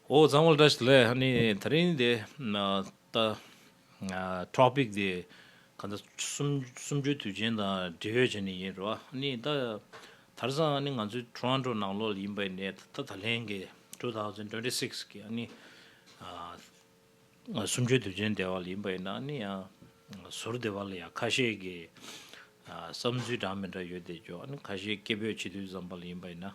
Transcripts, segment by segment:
ཨོ་གཙང་བོ་བཀྲ་ཤིས་ལས་ཧ་ནི་ད་རིང་དེ་ད Topic དེ་ག་འདྲ་གསུམ་བཅུའི་དུས་ཆེན་དང་འབྲེལ་ཡོད་བྱས་ནས་ཡིན་རེད་བ་ཧ་ནི་ད་དར་ཟང་ཧ་ནི་ང་ཚོའི Toronto ནང་ལོགས་ལ་ཡིན་པའི་ནས་ད་ད་ལན་གྱི Two Thousand Twenty Six གྱི་ཧ་ནི་གསུམ་བཅུའི་དུས་ཆེན་དེ་བ་ལ་ཡིན་པ་ཡིན་ན་ཧ་ནི་ཡང་ཟུར་དེ་བ་ལ་ཡང་ཁ་ཤས་ཀྱི་བསམ་ཚུལ་འདྲ་མི་འདྲ་ཡོད་དེ་ཅོག་ཧ་ནི་ཁ་ཤས་སྐད་འབོད་བྱེད་དུས་ཙམ་པ་ལ་ཡིན་པ་ཡིན་ན།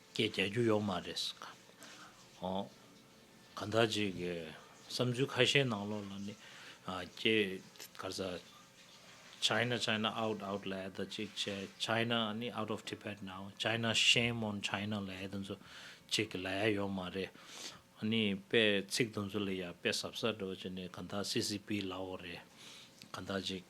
སྐད་རྒྱག་རྒྱུ་ཡོག་མ་རེད་ཟེར། ཨོ། གང་ཐག་ཅིག་གི་བསམ་ཚུལ་ཁ་ཤས་ནང་ལོགས་ལ་ནི། ཀྱེ། གར་ས། China China out out ལ་ཨེ་ད་ཅིག་བྱས China ནི out of Tibet now China shame on China ལ་ཨེ་ད་ཚོ་ཅིག་གི་ལ་ཡ་ཡོག་མ་རེད། ནི་དཔེ་ཚིག་དུ་ཚོ་ལ་ཡ་དཔེ་ཟབ་ས་འགྲོ་ཅིག་ནི་གང་ཐག CCP ལ་ཨོ་རེད། གང་ཐག་ཅིག།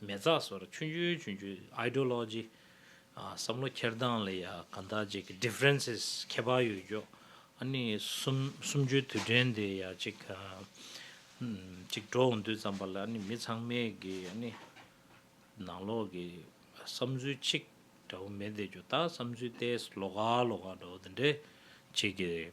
མེ་བཙའ་སོར་ཆུན་ཆུན་ཆུན་ཆུན Ideology། བསམ་བློ་འཁྱེར་སྟངས་ལ་ཡང་གང་དག་ཅིག་གི Differences ཁྱད་པར་ཡོད་ཀྱོག་ཨ་ནི་གསུམ་གསུམ་བཅུའི་དུས་དྲན་དེ་ཡང་ཅིག་ཅིག་འགྲོ་འོང་དུས་ཙམ་པ་ལ་ཨ་ནི་མི་ཚང་མས་གི་ཨ་ནི་ནང་ལོག་གི་བསམ་ཚུལ་གཅིག་འདྲ་བོ་མེད་བསྡད་ཀྱོག་ད་བསམ་ཚུལ་ཏེས་ལོག་ག་ལོག་ག་འདྲ་བོ་དེ་འདྲས་ཅིག་གི་རེད།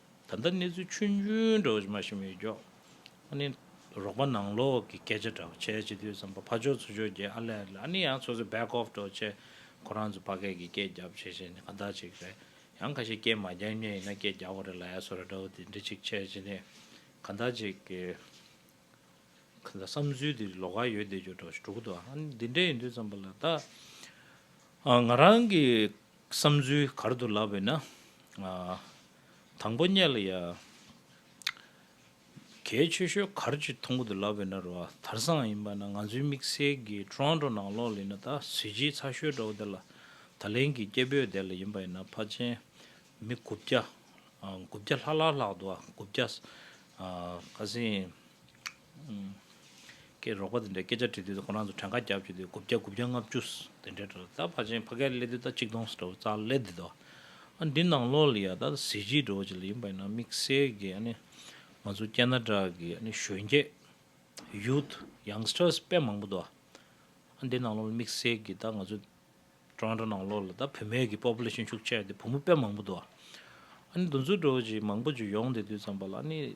ད་ལྟ་གནས་ཚུལ་ཆུང་ཆུང་འདྲ་བོ་ཞིག་མ་ཤེས་མི་ཡོད་ཀྱོ། ཨ་ནི་རོགས་པ་ནང་ལོག་གི་སྐད་ཆ་འདྲ་བོ་བྱས་བྱས་དུས་བསམ་པ་ཕ་ཆོས་ཚུ་ཆོས་རྒྱལ་ཨ་ལས་ལ་ཨ་ནི་ཡང་སོ་སོའི back off འགྲོ་བྱས་ཁོ་རང་ཚོ་ཕ་སྐད་ཀྱི་སྐད་རྒྱབ་བྱས་བྱས་ནས་ཁ་བརྡ་བྱས་ཀྱི་རེད་ཡང་ཁ་ཤས་སྐད་མ་རྒྱག་ཉེ་ཡིན་ན་སྐད་རྒྱག་གོ་རེ་ལ་ཡ་སོ་ར་འདྲ་བོ་དེ་འདྲ་ཅིག་བྱས་བྱས་ནས་ཁ་བརྡ་བྱས་ཀྱི། ཁ་བརྡ་བསམ་ཚུལ་དེ་ལོག་ཁ་ཡོད་བསྡད་རྒྱུ་འདྲ་བོ་ཞིག་འགྲོ་གི་འདུག་ཨ་ནི་འདི་འདྲ་ཡིན་དུས་བསམ་པ་ལ་ད་ང་རང་གི་བསམ་ཚུལ་གར་དུ་ལབ་བས་ན། དང་པོ་སྙད་ལ་ཡང། གལ་ཆེ་ཤོས་གར་གྱི་མཐོང་གོ་དུ་ལབ་བས་ན་རུ་བ་དར་སང་ཡིན་པ་ན་ང་ཚོའི་དམིགས་བསལ་གྱི Toronto ནང་ལོག་ལེ་ན་ད་གཟི་བརྗིད་ཚ་ཤོས་འདྲ་བོ་དེ་ལ་ད་ལན་གྱི་སྐྱེ་བོས་དེ་ལ་ཡིན་པ་ཡིན་ན་ཕ་ཆེན་མི་དགུ་བརྒྱ་དགུ་བརྒྱ་ལྷག་ལྷག་ལྷག་འདུག་ཨ་དགུ་བརྒྱ། ཁ་སེང། ཀྱི་རོགས་པ་དེ་འདྲས་སྐད་ཆ་དྲིས་དུས་ཁོ་རང་ཚོ་བྲང་ཁ་རྒྱག་བཅུག་དུས་དགུ་བརྒྱ་དགུ་བརྒྱ་ལྔ་བཅུ། དེ་འདྲས་འགྲོ། ད་ཕར་ཕྱིན་ཕ་གའི་ཀླད་དུས་ད་གཅིག་སྟོང་སྒྲོ་བཙག་ཀླད་དུས་ད། ཨ་འདི་ནང་ལོག་ལ་ཡ་ད་གཟི་བརྗིད་སྒྲོ་བཅས་ལ་ཡིན་པ་ཡིན་ན་དམིགས་བསལ་གྱི་ཨ་ནི། ང་ཚོ་སྐྱེ་ན་དྲག་གི་ཨ་ནི་གཞོན་སྐྱེས། Youth Youngsters དཔེ་མང་པོ་འདུག་ཨ། ཨ་འདི་ནང་ལོག་ལ་དམིགས་བསལ་གྱི་ད་ང་ཚོ། བྲང་ཁ་ནང་ལོག་ལ་ད་བུད་མེད་ཀྱི Population ཤུགས་ཆེ་ཡ་དེ་བུ་མོ་དཔེ་མང་པོ་འདུག་ཨ། ཨ་ནི་འདུ་འཛུགས་སྒྲོ་བཅས་མང་པོ་བཅས་ཡོང་དེ་དུས་ཙམ་པ་ལ་ཨ་ནི།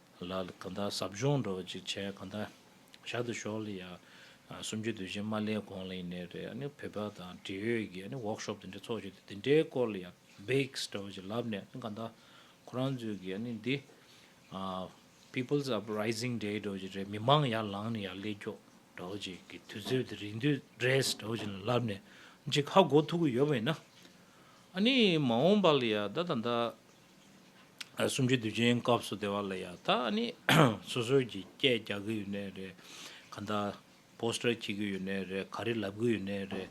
ལ་གང་དག་ཟབ་སྦྱོང་འགྲོ་བ་ཅིག་བྱས་གང་དག་ཞག་དུ་ཞོག་ལ་ཡང་སུམ་བཅུ་དུས་ཆེན་མ་ལས་གོང་ལ་ཡིན་ནའི་རེད་ནས་བོད་པ་དང་འབྲེལ་ཡོད་ཀྱི་ནས་ཝོག་ཤོབ་དེ་འདྲ་ཚོགས་བྱས་ཏེ་དེ་འདྲའི་སྐོར་ལ་ཡང་བེགས་འདྲ་བ་ཅིག་ལབ་ནས་གང་དག་ཁོ་རང་ཚོའི་གི་ནས་འདི People's Uprising Day འདྲ་བ་ཅིག་རེད་མི་མང་ཡར་ལངས་ནས་ཡར་ཀླད་སྐྱོག་འདྲ་བ་ཅིག་གི་དུས་ཚོད་དེ་རིང་དུས Dress འདྲ་བ་ཅིག་ལ་ལབ་ནས་ཅིག་ཧ་གོ་ཐུབ་ཀྱི་ཡོད་པ་ཡིན་ན་ནས་མ་འོངས་པ་ལ་ཡང་ད་ད་ད་གསུམ་བཅུ་དུས་ཆེན་སྐབས་སུ་དེ་བ་ལ་ཡང་ད་ནི་སོ་སོས་ཀྱི་སྐད་རྒྱག་གི་ཡོད་ནའི་རེད། ག་འདའ Poster བྱེད་གི་ཡོད་ནའི་རེད་ག་རེ་ལབ་གི་ཡོད་ནའི་རེད།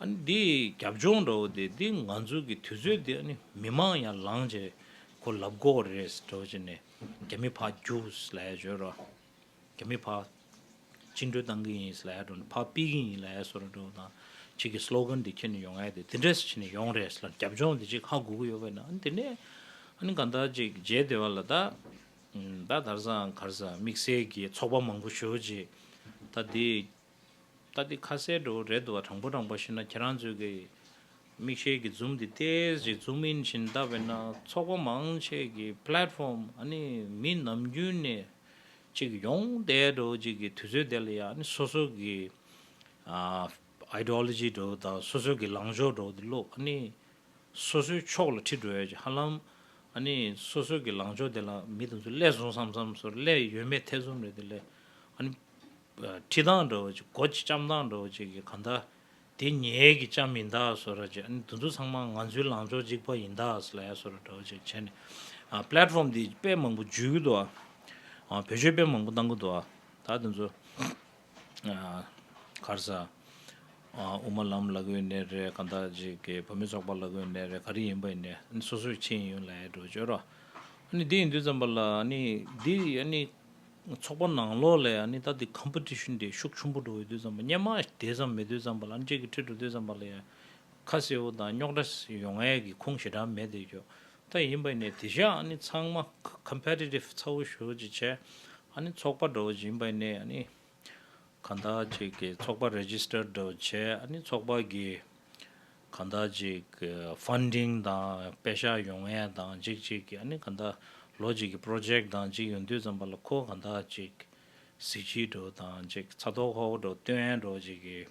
ཨ་ནི་འདི་རྒྱབ་ལྗོངས་འདྲ་བོ་དེ་འདི་ང་ཚོ་གི་དུས་ཚོད་འདི་ཨ་ནི་མི་མང་ཡང་ལངས་བྱས་ཁོ་ལབ་གོ་རེད་ཟེར་བྱས་ནས་རྒྱ་མི་ཕ་རྒྱུགས་ལས་བྱོས་ར། རྒྱ་མིས་ཕ། བཅིངས་འགྲོལ་བཏང་གི་ཡིན་ཟེར་ལ་ཡར་འགྲོ་ནས་ཕ་སྤིད་གི་ཡིན་ལ་ཡར་སོ་ར་འགྲོ་དང། ཁྱེད་ཀྱི Slogan འདི་ཁྱེར་ནས་ཡོང་ཨེ་དེ་འདྲས་ཁྱེར་ནས་ཡོང་རེད་ཟེར་ལ་རྒྱབ་ལྗོངས་དེ་ཅིག་ཧ་གོ་གི་ཡོད་པས་ན་ཨ་ནི་དེ་ནས་ཨ་ནི་གང་ལྟར་ཅིག་མཇལ་བདེ་བ་ལ་ད། ད་དར་ཟའམ་གར་ཟའམ་དམིགས་བསལ་གྱི་ཚོགས་པ་མང་པོ་ཞུ་རྗེས། ད་དེ་ལྟ་འདི་ཁ་གསལ་འགྲོ་འི་རེད་འདུག་ག་དྲང་པོ་དྲང་པོ་ཤི་ན་ཁྱེད་རང་ཚོས་གི་མིག་ཤེལ་གི་འཛུམ་འདི་ལྟས་ཅིག་འཛུམ་ཨིན་བཞིན་ལྟ་བས་ན་ཚོགས་པ་མང་ཆེ་གི Platform ཨ་ནི་མི་ནམ་རྒྱུན་ནས་ཅིག་ཡོང་བསྡད་འགྲོ་ཅིག་གི་དུས་ཚོད་དེ་ལ་ཡང་ཨ་ནི་སོ་སོ་གི Ideology འགྲོ་དང་སོ་སོ་གི་ལངས་ཕྱོགས་འགྲོ་འདི་ལོག་ཨ་ནི་སོ་སོའི་ཕྱོགས་ལ་ཁྲིད་འགྲོ་ཡ་ཅིག་ཧ་ལམ་ཨ་ནི་སོ་སོ་གི་ལངས་ཕྱོགས་དེ་ལ་མི་དེ་ཚོ་བསླད་སོང་བསམ་བསམ་སོར་བསླད་ཡོད་མེད་ཐེ་ཚོམ་རེད་དེ་ལས་ཨ་ནི། ཁྲི་དང་འདྲ་བ་ཅིག་སྒོ་ཁྱི་ལྕམ་དང་འདྲ་བ་ཅིག་གིས་གང་དག་དེ་ཉེས་ཀྱི་ལྕམ་ཡིན་དཱ་སོ་ར་ཅིག་ཨ་ནི་དེ་ཚོ་ཚང་མ་ང་ཚོའི་ལངས་ཕྱོགས་གཅིག་པ་ཡིན་དཱ་སི་ལ་ཡ་སོ་ར་འདྲ་བ་ཅིག་བྱས་ནས Platform འདི་དཔེ་མང་པོ་འཇུས་གི་འདུག་ཨ་བོད་ཆོས་དཔེ་མང་པོ་བཏང་གི་འདུག་ཨ་ད་དེ་ཚོ་གར་ས་དབུ་མ་ལམ་ལ་གོའི་གནས་རེད་གང་དག་ཅིག་གིས་བོད་མི་ཚོགས་པ་ལ་གོའི་གནས་རེད་ག་རེ་ཡིན་པ་ཡིན་ནས་ཨ་ནི་སོ་སོའི་ཁྱི་ཡིན་ཡོད་ལ་ཡ་འདྲ་བ་ཅིག་ཨོ་ར་ཨ་ནི་འདི་ཡིན་དུས་ཙམ་པ་ལ་ཨ་ནི་འདི་ཨ་ནི། ཚོགས་པ་ནང་ལོགས་ལས་ཡང་ནི་ད་ལྟའི Competition དེ་ཤུགས་ཆུང་པོ་འགྲོ་འོས་དུས་ཙམ་པོ་སྙན་མ་དེ་ཙམ་མེད་དུས་ཙམ་པོ་ལ་ནི་ཁྱེད་ཀྱི་ཁྲི་འགྲོ་དུས་ཙམ་པ་ལ་ཡང་ཁ་གསལ་བོ་དང་རྙོག་དྲ་ཡོང་ངེས་ཀྱི་ཁུངས་ཞེ་དྲག་མེད་དེ་ཁྱོད་ལྟ་ཡིན་པ་ཡིན་ནས་དེ་བཞིན་ཡང་ནི་ཚང་མ Competitive ཚ་བོ་ཞོ་བོ་ཅིག་བྱས་ཡང་ནི་ཚོགས་པ་འགྲོ་བ་ཅིག་ཡིན་པ་ཡིན་ནས་ཡང་ནི། གང་དག་ཅིག་གིས་ཚོགས་པ Register དུ་བྱས་ནས་ཚོགས་པ་གིས་གང་དག་ཅིག Funding དང་དཔེ་བཞག་ཡོང་ཡས་དང་ཅིག་ཅིག་གིས་གང་དག་ལོ་གཅིག་གི Project དང་ཅིག་ཡོང་དུས་ཙམ་པ་ལ་ཁོ་གང་དག་ཅིག་གཟི་བརྗིད་དུ་དང་ཅིག་ཚ་ཐོག་ཧོག་དུ་སྟོན་ཡས་འགྲོ་ཅིག་གིས།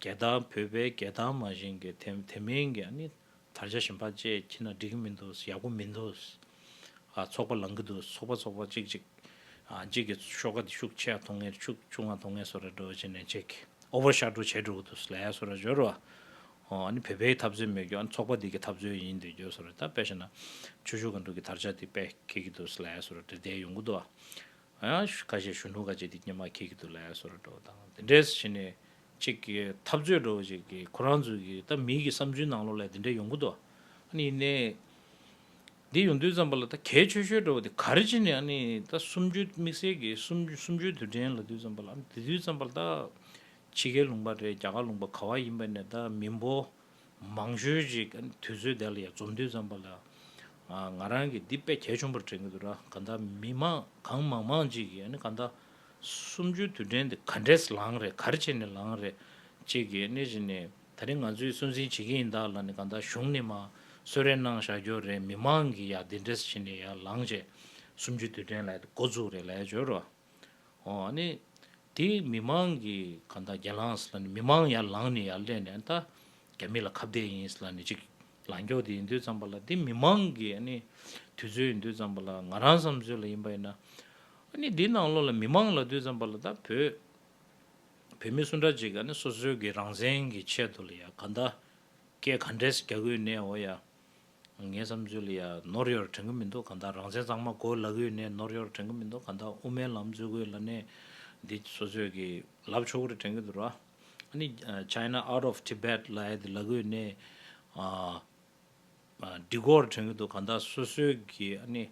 རྒྱལ་དར་བོད་པའི་རྒྱལ་དར་མ་བཞེངས་ཀྱི་དེ་མིན་གྱི་ནི་དར་ཆ་གཞན་པ་བཅས་ཁྱེར་ན་འགྲིག་གི་མི་འདུག་ཡག་པོ་མི་འདུག་ཚོགས་པ་ལངས་ཀྱི་འདུག་ཚོགས་པ་ཚོགས་པ་གཅིག་གཅིག་གཅིག་གི་ཤོག་ཀ་དེ་ཤུགས་ཆེ་ཡང་ཐོག་ངེར་ཆུག་ཆུག་ང་ཐོག་ངེར་སོ་ར་འགྲོ་བྱེད་ནས་ཆེ་གི Over Shot རུ་བྱས་འགྲོ་གི་འདུག་ལས་སོ་ར་བྱོས་རུ་ཨ་ནི་བོད་པའི་འཐབ་རྩོད་མེད་རྒྱུ་ཚོགས་པ་དེ་གི་འཐབ་རྩོད་ཡིན་འདོད་རྒྱུ་སོ་ར་ད་དཔེ་བྱས་ན་ཆུ་ཤུགས་ག་འགྲོ་གི་དར་ཆ་དེ་དཔེ་ཁེལ་གྱི་འདུག་ལས་སོ་ར་འདྲེ་བདེ་ཡོང་གི་འདུག་ཁ་ཤས་གཞོན་ནུ་ཁ་ཅིག་དེ་སྙེ་མ་ཁྱེར་གྱི་འདུག་ལ་ཡ་སོ་ར་འགྲོ་བ་དང་དེ་འདྲས་སུ་བྱས་ནས་ཅིག་གི་འཐབ་རྩོད་འགྲོ་བ་ཅིག་གི་ཁོ་རང་ཚོའི་གི་ད་མི་གི་བསམ་ཚུལ་ནང་ལོགས་ལས་དེ་འདྲས་ཡོང་གི་འདུག་ཨ་ནི་ཡིན་ནའི། དེ་ཡོང་དུས་ཙམ་པ་ལ་ད་གལ་ཆོད་ཤོས་འགྲོ་བ་དེ་ག་རེ་བྱས་ནས་ཨ་ནི་ད་གསུམ་བཅུ་དམིགས་བསལ་གི་གསུམ་བཅུའི་དུས་དྲན་ལ་དུས་ཙམ་པ་ལ་ཨ་ནི་དེ་དུས་ཙམ་པ་ལ་ད་ཕྱི་རྒྱལ་ལུང་པ་རེད་རྒྱ་གར་ལུང་པ་ག་བ་ཡིན་པ་ནས་ད་མི་འབོ། མང་ཤོས་ཅིག་དུས་ཚོད་དེ་ལ་ཡང་རྩོམ་འདུས་ཙམ་པ་ལ། ང་རང་གིས་འདི་དཔེ་གལ་ཆུང་པར་དྲན་གྱི་འདུག་ལ་གང་ལྟར་མི་མང་གང་མང་མང་ཅིག་གིས་ནི་གང་ལྟར། གསུམ་བཅུའི་དུས་དྲན་འདི་ག་འདྲས་ལའང་རེད་ག་རེ་བྱས་ནས་ལའང་རེད། ཅེས་ཀྱི་ནི་བཞིན་ནི་ད་རིང་ང་ཚོས་སུན་སེན་བྱེད་ཀྱི་ཡིན་ད་ལ་ནི་གང་ལྟར་གཞུང་ནི་མ་གསོད་རེ་གནང་བཞག་རྒྱུ་རེད་མི་མང་གིས་ཡང་འདི་འདྲས་བྱས་ནས་ཡར་ལངས་བྱས། གསུམ་བཅུའི་དུས་དྲན་ལའི་འགོ་འཛུགས་རེ་ལའི་བརྗོད་རོགས། ནི། དེ་མི་མང་གི་ག་ད་རྒྱ་ལངས་ལ་ནི་མི་མང་ཡར་ལངས་ནས་ཡར་སླེབས་ནས་ད་རྒྱ་མི་ལ་ཁ་བརྡས་ཡིན་ལ་ནི་ཅིག་ལང་ཀྱོག་དེ་ཡིན་དུས་ཙམ་པ་ལ་དེ་མི་མང་གི་ནི་དུས་ཚོད་ཡིན་དུས་ཙམ་པ་ལ་ང་རང་བསམ་ཚོད་ལ་ཡིན་པ་ཡིན་ན་ནི་དེ་ནང་ལོགས་ལ་མི་མང་ལ་དུས་ཙམ་པ་ལ་ད་བོད་བོད་མི་སུ་འདྲ་ཅིག་ག་ནི་སོ་སོའི་གི་རང་བཙན་གི་ཆེད་དུ་ལ་ཡ་ག་ད་སྐད་ག་འདྲས་རྒྱ་གུས་ནས་འོ་ཡ། ངའི་བསམ་ཚུལ་ལ་ཡང་ནོར་ཡོད་དྲན་གི་མི་འདུག་གང་ལྟར་རང་བཙན་གཙང་མ་དགོས་ལག་ཡོད་ནས་ནོར་ཡོད་དྲན་གི་མི་འདུག་གང་ལྟར་དབུ་མའི་ལམ་གཙོས་དགོས་ལ་ནས་འདི་སོ་སོས་ཀྱི་ལབ་ཆོག་གི་རེད་དྲན་གི་འདུག་ར་ནི China out of Tibet ལ་ཡང་འདི་ལག་ཡོད་ནས་འདི་དགོས་རེད་དྲན་གི་འདུག་གང་ལྟར་སོ་སོས་ཀྱི་ཨ་ནི་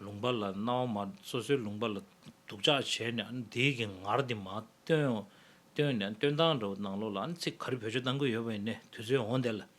ལུང་པ་ལ་སྣང་བ་མ་སོ་སོའི་ལུང་པ་ལ་སྡུག་ཅག་བྱས་ནས་ཨ་ནི་འདི་གི་ངར་འདི་མ་སྟོན་ནས་སྟོན་སྟངས་འདྲ་བོ་གནང་ལོ་ལ་ཨ་ནི་ཚིག་ག་རེ་བོད་ཆོས་གཏང་གི་ཡོད་པ་ཡིན་ནས་དུས་ཚོད་འོང་བསྡད་ལ།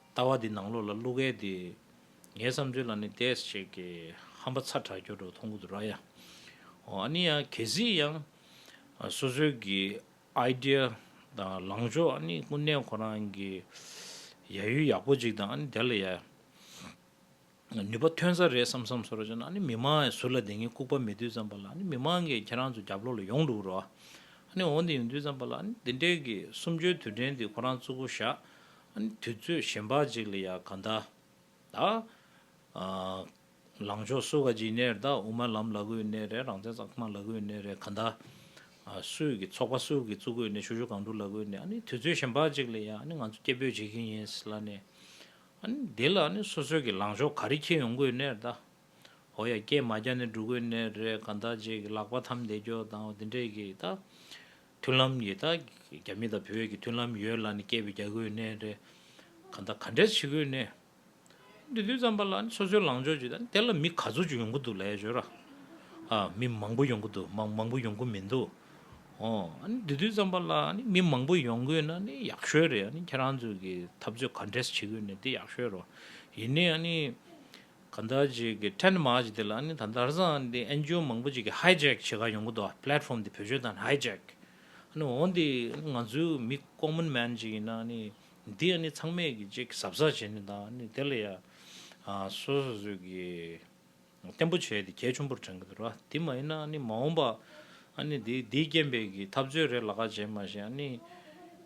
ལྟ་བ་འདི་ནང་ལོགས་ལ་བླུག་གལ་ཏེ། ངའི་བསམ་ཚུལ་ལ་ནི་དེས་བྱས་ཀྱི། ཧམ་པ་ཚ་དྲག་གྱུར་འགྲོ་མཐོང་གུ་དུ་ར་ཡ། ཨོ་ཨ་ནི་ཡ་གལ་སྲིད་ཡང། སོ་སོའི་གི idea དང་ལངས་ཕྱོགས་ཨ་ནི་ཀུན་ནས་ཁོ་རང་གི། ཡ་ཡུལ་ཡག་པོ་ཅིག་དང་ཨ་ནི་དེ་ལ་ཡ། ནུས་པ་ཐོན་ས་རེད་བསམ་བསམ་སོ་ར་ཅོ་ན་ནི་མི་མང་ཟུར་ལ་དེ་ངའི་ལྐུག་པ་མི་དུད་ཙམ་པ་ལ་ནི་མི་མང་གིས་ཁྱེད་རང་ཚོ་རྒྱབ་ལོག་ལ་ཡོང་འགྲོ་རོགས་ཨ་ནི་འོ་འདི་ཡོང་དུད་ཙམ་པ་ལ་ནི་འདི་འདྲའི་གི་གསུམ་བཅུའི་དུད་འདྲེན་འདི་ཁོ་རང་ཙུག་གོ་ཞག་ཨ་ནི་དུད་ཚོད་གཞན་པ་ཅིག་ལ་ཡག་ག་འདའ་ད་ལང་ཕྱོགས་སུ་ག་ཅིག་གནས་རེད་ད་དབུ་མ་ལམ་ལ་གུས་གནས་རེད་རང་བཙན་ཙག་ཙིག་མ་ལ་གུས་གནས་རེད་ག་འདའ་སུས་གི་ཚོགས་པ་སུས་གི་ཙུག་གོས་ནས་ཤུ་ཤུ་གང་དྲུག་ལ་གུས་གནས་ཨ་ནི་དུད་ཚོད་གཞན་པ་ཅིག་ལ་ཡག་ཨ་ནི་ང་ཚོ་སྐད་འབོད་བྱེད་ཀྱིན་ཡིན་ལ་ནི། འདི་ལ་ནི་སོ་སོའི་གི་ལངས་ཕྱོགས་ག་རེ་ཁྱེད་ཡོང་དགོས་ནས་ད། ཧོ་ཡ་སྐྱེས་མ་བརྒྱ་ནི་འགྲོ་དགོས་ནས་རེད་ག་ད་རྗེས་གི་ལག་པ་ཐམས་འདེད་རྒྱོ་དང་འདི་འདྲས་གི་ད། མཐུན་ལམ་གི་ད་རྒྱ་མི་དང་བོད་གི་མཐུན་ལམ་ཡོད་ལ་ནི་སྐྱེས་པའི་རྒྱ་དགོས་ནས་རེད་ག་ད་ག་འདྲས་བྱེད་དགོས་ནས། འདི་དུས་ཙམ་པ་ལ་ནི་སོ་སོའི་ལངས་ཕྱོགས་ཀྱི་ད་དེ་ལ་མི་ག་ཚོད་ཅིག་ཡོང་གི་འདུག་ལས་བྱོས་ར། མི་མང་པོ་ཡོང་གི་འདུག་མང་མང་པོ་ཡོང་གི་མི་འདུག་ཨོ། འདི་དུས་ཙམ་པ་ལ་མི་མང་པོ་ཡོང་དགོས་ན་ནི་ཡག་ཤོས་རེད་ཨ། ཁྱེད་རང་ཚོས་ཀྱི་འཐབ་རྩོད་ག་འདྲས་བྱེད་དགོས་ནི་དེ་ཡག་ཤོས་རོ། ཡིན་ནའི་ཨ་ནི། ག་འདའ་ཅིག་གི་ཐྲེནད་མ་ཅིག་དེ་ལ་ནི་ད་འདར་སང་དེ་ཨན་ཇོ་མང་པོ་ཅིག་གི་ཧའི་ཇེཀ་བྱེད་ག་ཡོང་གི་འདུག Platform དེ་བོད་ཆོས་དང་ཧའི་ཇེཀ། ཨ་ནི་འོ་འདི་ང་ཚོའི་མི Common Man ཅིག་ཡིན་ན་ཨ་ནི། འདི་ཨ་ནི་ཚང་མས་ཀྱི་ཅིག་གི་ཟབ་ས་བྱེད་ནི་དང་ཨ་ནི་དེ་ལ་ཡང། སོ་སོ་ཚོས་ཀྱི། བརྟན་པོ་བྱས་ཏེ་གལ་ཆུང་པོར་དྲན་གྱི་འདུག་ར་དེ་མ་ཡིན་ན་མ་འོངས་པ་འདི་འདིའི་རྐྱེན་པས་གི་འཐབ་རྩོད་རེ་ལ་ཁ་བྱེད་མ་བྱེད་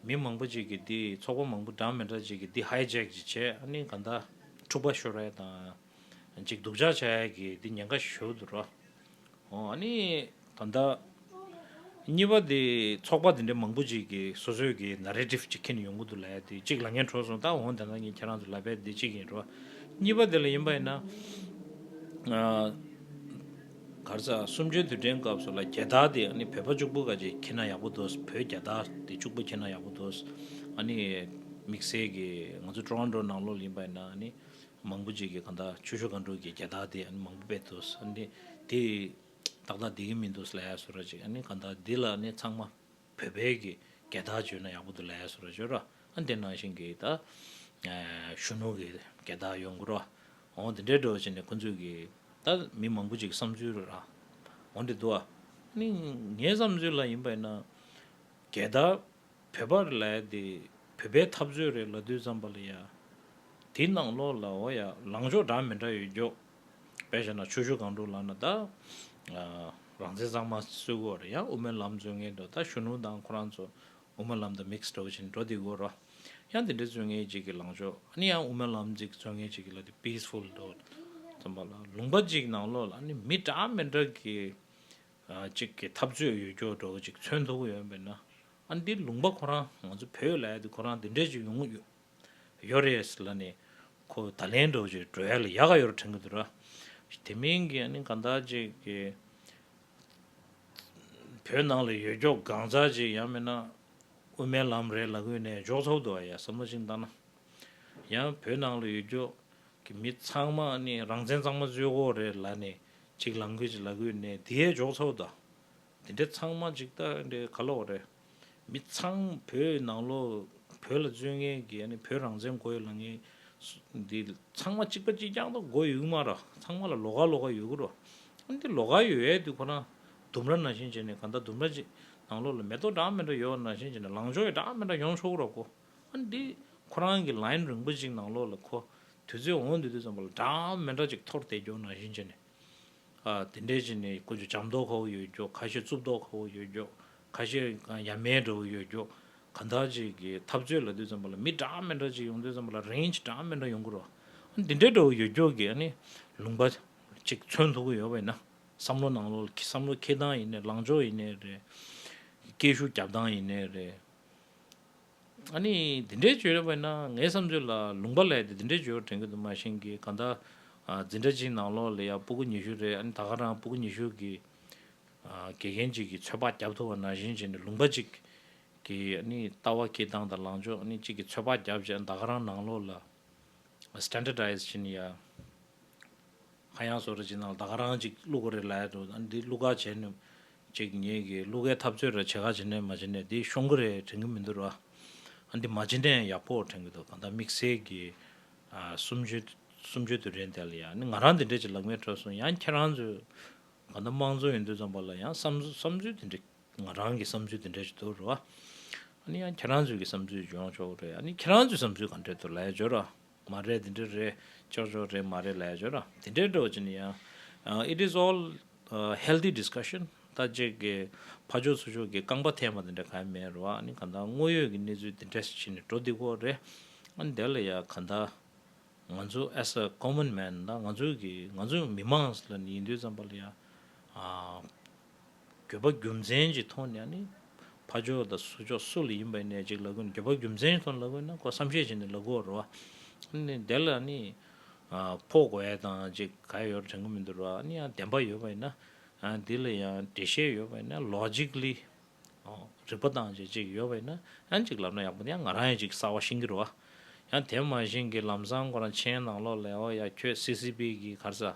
མི་མང་པོ་ཅིག་གི་འདི་ཚོགས་པ་མང་པོ་འདྲ་མི་འདྲ་ཅིག་གི་འདི་ཧའི་ཇེག་ཅིག་བྱས་ཨ་ནི་ག་འདའ་འཁྲུག་པ་ཤོར་རེ་དང་ཅིག་སྡུག་ཅག་བྱས་གི་འདི་ཉེན་ཁ་ཞུ་འདུག་ར་ཨ་ནི། ད་ལྟ། གཉིས་པ་དེ་ཚོགས་པ་དེ་འདྲའི་མང་པོ་ཅིག་གིས་སོ་སོས་ཀྱི Narrative ཅིག་ཁྱེར་ནས་ཡོང་གི་འདུག་ལ་དེ་གཅིག་ལ་ངས་འཕྲོད་སོང་ད་འོང་དེ་འདྲ་ངས་ཁྱེད་རང་ཚོ་ལ་བེད་དེ་གཅིག་ཡིན་རོ། གཉིས་པ་དེ་ལ་ཡིན་པ་ཡིན་ན། གར་ས་གསུམ་བཅུའི་དུས་དྲན་སྐབས་སུ་ལ་རྒྱལ་དར་དེ་ཨ་ནི་བོད་པ་བཅུག་པོ་ག་ཅིག་ཁྱེར་ན་ཡག་པོ་འདུག་བོད་རྒྱལ་དར་དེ་བཅུག་པོ་ཁྱེར་ན་ཡག་པོ་འདུག་ཨ་ནི་དམིགས་བསལ་གྱི་ང་ཚོ Toronto ནང་ལོགས་ལ་ཡིན་པ་ཡིན་ན་ཨ་ནི་མང་པོ་ཅིག་གིས་གང་ལྟར་ཆུ་ཤུར་གང་དྲུག་གི་རྒྱལ་དར་དེ་ཨ་ནི་མང་པོ་བེད་འདུག་ཨ་ནི་དེ། ཏག་ཏག་འདི་གི་མིང་འདུག་སླའི་སོ་ར་ཅིག་ཨ་ནི་ག་འདའ་འདི་ལ་ནི་ཚང་མ་བོད་པའི་གི་སྐད་བརྡ་བརྗོད་ན་ཡག་པོ་འདུག་སླའི་སོ་ར་བརྗོད་ར་ཨ་ནི་དེ་ནང་བཞིན་གི་ད་གཞོན་ནུ་གི་སྐད་བརྡ་ཡོང་དགོས་ར་ཨོ་འདི་འདྲའི་སྒྲོ་བྱས་ནས་ཁོང་ཚོས་གི་ད་མི་མང་པོ་ཅིག་གི་བསམ་ཚུལ་ར་ཨོ་འདྲེ་འདུག་ཨ་ནི་ངའི་བསམ་ཚུལ་ལ་ཡིན་པ་ཡིན་ན་སྐད་བརྡ་བོད་པ་རེ་ལའི་དེ་བོད་པའི་འཐབ་རྩོད་རེ་ལ་དུས་བརྩམས་པ་ལ་ཡ་དེ་ནང་ལོགས་ལ་ཨོ་ཡ་ལངས་ཕྱོགས་འདྲ་མི་འདྲ་ཡོད་རྒྱོ། དཔེ་བྱས་ན་ཆོས་ཞུ་གང་དྲུག་ལགས་ན་ད། རང་བཙན་གཙང་མ་སུས་གོ་རེད་ཡ་དབུ་མའི་ལམ་རྩོད་མཁན་དོ་ད་གཞོན་ནུ་དང་ཁོ་རང་ཚོ་དབུ་མའི་ལམ་དང་མིག་སྒྲོག་བྱེད་འགྲོ་དེ་གོ་རོགས། ཡང་དེ་འདྲའི་རྩོད་མཁན་གཅིག་གི་ལངས་ཕྱོགས་ཨ་ནི་ཡང་དབུ་མའི་ལམ་གཅིག་རྩོད་མཁན་གཅིག་གི་ལ་དེ peaceful དོ། ཚང་མ་ལ་ལུང་པ་གཅིག་ནང་ལོགས་ལ་ཨ་ནི་མི་དྲག་མི་དྲག་གི་གཅིག་གི་འཐབ་རྩོད་ཡོད་སྐྱོ་སྒྲོག་གཅིག་མཚོན་ཐུབ་ཡོད་པས་ན་ཨ་ནི་དེ་ལུང་པ་ཁོ་རང་ང་ཚོ་བོད་ལ་ཡ་དེ་ཁོ་རང་དེ་འདྲས་གཅིག་ཡོང་གི་ཡོད། ཡོད་རེད་ཟེར་ལ་ནི། ཁོ་ད་ལན་འགྲོ་ཆེད་བྲོ་ཡ་ལ་ཡ་ག་ཡོད་ར་དྲན་གི་འདུག་ར། དེ་མིན་གྱི་ནི་གང་དག་ཅིག་གི། བོད་ནང་ལ་ཡོད་འགྱོག་གང་ཟག་ཅིག་ཡང་མིན་ན། དབུ་མའི་ལམ་རེད་ལ་ཀུན་ནས་འཇོག་ཐུབ་འདུག་བ་ཡ་བསམ་བློ་ཅིག་བཏང་ན། ཡང་བོད་ནང་ལ་ཡོད་འགྱོག་གི་མི་ཚང་མ་ནི་རང་བཙན་གཙང་མ་རྩོད་དགོས་རེད་ལ་ནི་ཅིག་ལང་ཀི་ཅིག་ལ་ཀུན་ནས་དེ་ཡས་འཇོག་ཐུབ་འདུག་བ་དེ་འདྲ་ཚང་མ་ཅིག་ད་འདྲའི་ག་ལོག་རེད། མི་ཚང་མ་བོད་ནང་ལོ་བོད་ལ་བརྩོན་མཁན་གྱི་བོད་རང་བཙན་གོ་ཡོད་ལ་ངའི་འདི་ཚང་མ་ཅིག་པ་ཅིག་རྐྱང་དུ་གོ་ཡོད་ཀྱི་མ་ར་ཚང་མ་ལ་ལོ་ག་ལོ་ག་ཡོད་ཀྱི་རོ། འདི་ལོ་ག་ཡོད་ཡའི་དུས་ཁོ་ན་ལྡུམ་ར་ན་བཞིན་བྱས་ནས་ག་ད་ལྡུམ་ར་ཅིག་ནང་ལོག་ལ་མེ་ཏོག་འདྲ་མི་འདྲ་ཡོད་ན་བཞིན་བྱས་ནས་ལང་ཕྱོགས་ཡོད་འདྲ་མི་འདྲ་ཡོང་ཆོག་གི་རོ་གོ། འདི་ཁོ་རང་གི་ལཱིན་རིང་པོ་ཅིག་ནང་ལོག་ལ་ཁོ་དུས་ཚོད་འོང་དུས་དུས་ཙམ་པ་ལ་འདྲ་མི་འདྲ་ཅིག་འཐོར་བསྡད་རྒྱོ་ན་བཞིན་བྱས་ནས་དེ་འདྲའི་ཆེ་ནས་ཀུན་ཏུ་ལྕགས་མདོག་ཁ་བོ་ཡོད་རྒྱུ་ཁ་ཤས་གཙུབ་མདོག་ཁ་བོ་ཡོད་རྒྱུ་ཁ་ཤས་ཡ་མེན་འདྲ་བོ་ཡོད་རྒྱུ་གང་དག་ཅིག་གི་འཐབ་རྩོད་ལ་དུས་ཙམ་པ་ལ་མི་འདྲ་མི་འདྲ་ཅིག་ཡོང་དུས་ཙམ་པ་ལ་རེན་ཇི་འདྲ་མི་འདྲ་ཡོང་གི་རོ། འདི་འདྲའི་འདྲ་བོ་ཡོད་རྒྱུ་གི་ལུང་པ་ཅིག་མཚོན་ཐུབ་ཀྱི་ཡོད་པས་ན་བསམ་བློ་གནང་ལོ་བསམ་བློ་འཁྱེར་སྟངས་ཡིན་ནས་ལངས་ཕྱོགས་ཡིན་ནས་རེད། སྐད་ཤུགས་རྒྱབ་སྟངས་ཡིན་ནས་རེད། ཨ་ནི་འདི་འདྲའི་བྱོས་ཡོད་པ་ཡིན་ན་ངའི་བསམ་ཚུལ་ལ་ལུང་པ་ལས་དེ་འདི་འདྲའི་བྱོས་བ་དྲན་གི་འདུག་མ་ཤེས་གི་ག་འདའ། འཛིན་གྲྭ་གཅིག་ནང་ལོགས་ལ་ཡ་སྤུ་གུ་ཉི་ཤུ་རེད་ཨ་ནི་ད་ག་རང་སྤུ་གུ་ཉི་ཤུ་གི་དགེ་རྒན་གཅིག་གི་ཚོད་དཔག་རྒྱབ་ཐུབ་བ་ན་བཞིན་བྱས་ནས་ལུང་པ་གཅིག་གི་ཨ་ནི་ལྟ་བ་ཁྱེད་སྟངས་དང་ལངས་ཕྱོགས་ཨ་ནི་གཅིག་གི་ཚོད་དཔག་རྒྱབ་བྱས་ཨ་ནི་ད་ག་རང་ནང་ལོགས་ལ། Standardized ཅིན་ཡ། ཁ་གཡང་སོགས་རེ་བྱེད་ནང་ལ་ད་ག་རང་གཅིག་གླུ་ག་རེ་ལ་ཡ་འགྲོ་འདི་གླུ་ག་བྱེད་ནུས། ཅིག་ཉིད་ཀྱི་གླུ་གའི་འཐབ་རྩོད་རེ་བྱེད་ག་བྱེད་ནུས་མ་བྱེད་ནུས་འདི་ཤོང་གི་རེ་དྲན་གི་མི་འདུག་ར། འདི་མ་བྱེད་ནའི་ཡག་པོ་དྲན་གི་འདུག་གང་ལྟར་དམིགས་བསལ་གྱི་སུམ་བཅུའི་དུས་དྲན་དེ་ལ་ཡང་ནི་ང་རང་འདི་འདྲས་ཀྱི་ལག་མལ་ཁྲོད་སོང་ཡང་ཁྱེད་རང་ཚོས་གང་ལྟར་དམངས་གཙོ་ཡིན་དུས་ཙམ་པ་ལ་ཡང་བསམ་ཚུལ་འདི་འདྲས་ང་རང་གི་བསམ་ཚུལ་དེ་འདྲས་ཅིག་འདུག་རོ། ཨཱ་ནི་ཁྱེད་རང་ཚོས་ཀྱི་བསམ་ཚུལ་འཇོག་ཆོག་རེད། ཨཱ་ནི་ཁྱེད་རང་ཚོས་བསམ་ཚུལ་གང་འདྲས་འདུག་ལས་འཇོག་རོགས། མ་རེད་དེ་འདྲས་རེད་ཅོག་ཅོག་རེད་མ་རེད་ལས་འཇོག་རོགས་དེ་འདྲས་འདྲོག་ཅིག་ནི་ཡང། It is all healthy discussion ད་ཅིག་གི་ཕ་ཅོག་ཚུ་ཅོག་གི་རྐང་པ་འཐེན་པ་དེ་འདྲས་ག་ཡང་མེད་རོ། ཨཱ་ནི་གང་དག་དངོས་ཡོད་ཀྱི་གནས་ཚུལ་དེ་འདྲས་ཅིག་ནི་འགྲོ་འདི་ཀོ་རེད། ཨཱ་ནི་དེ་ལ་ཡང་གང་དག་ང་ཚོ as a common man ད་ང་ཚོ་གི་ང་ཚོ་མི་མང་ལ་ནི་ཡིན་དུས་ཙམ་པ་ལ་ཡང། འགྱོད་པ་རྒྱུ་མཚན་གྱིས་མཐོང་ནས་ནི། ཕ་ཕྱོགས་དང་སུ་ཕྱོགས་སུ་ལ་ཡིན་པ་ཡིན་ནས་ཅིག་ལ་གོ་ནས་འགྱོད་པ་རྒྱུ་མཚན་གྱིས་མཐོང་ནས་ལ་གོ་ན་ཀོ་བསམ་ཤེས་བྱས་ནས་ལ་གོ་བར་བ། དེ་ལ་ནི། ཕོག་བས་དང་ཅིག་ག་ཡོད་དྲན་གྱི་མི་འདུག་ར་ནི་ཡང་བདེན་པ་ཡོད་པ་ཡིན་ན། དེ་ལ་ཡང་འགྲེལ་བཤད་ཡོད་པ་ཡིན་ན Logically། རིགས་པ་དང་ཅིག་ཅིག་ཡོད་པ་ཡིན་ན་ཅིག་ལབ་ན་ཡག་པོ་འདུག་ཡང་ང་རང་ཡང་ཅིག་གསར་བ་ཤེས་ཀྱི་རུ་བ། ཡང་དེ་མ་བཞིན་གྱི་ལམ་བཟང་ཁོ་རང་མཆན་ནང་ལོག་ལས་ཨོ་ཡ་ཁྱོད CCP གྱི་གར་ས།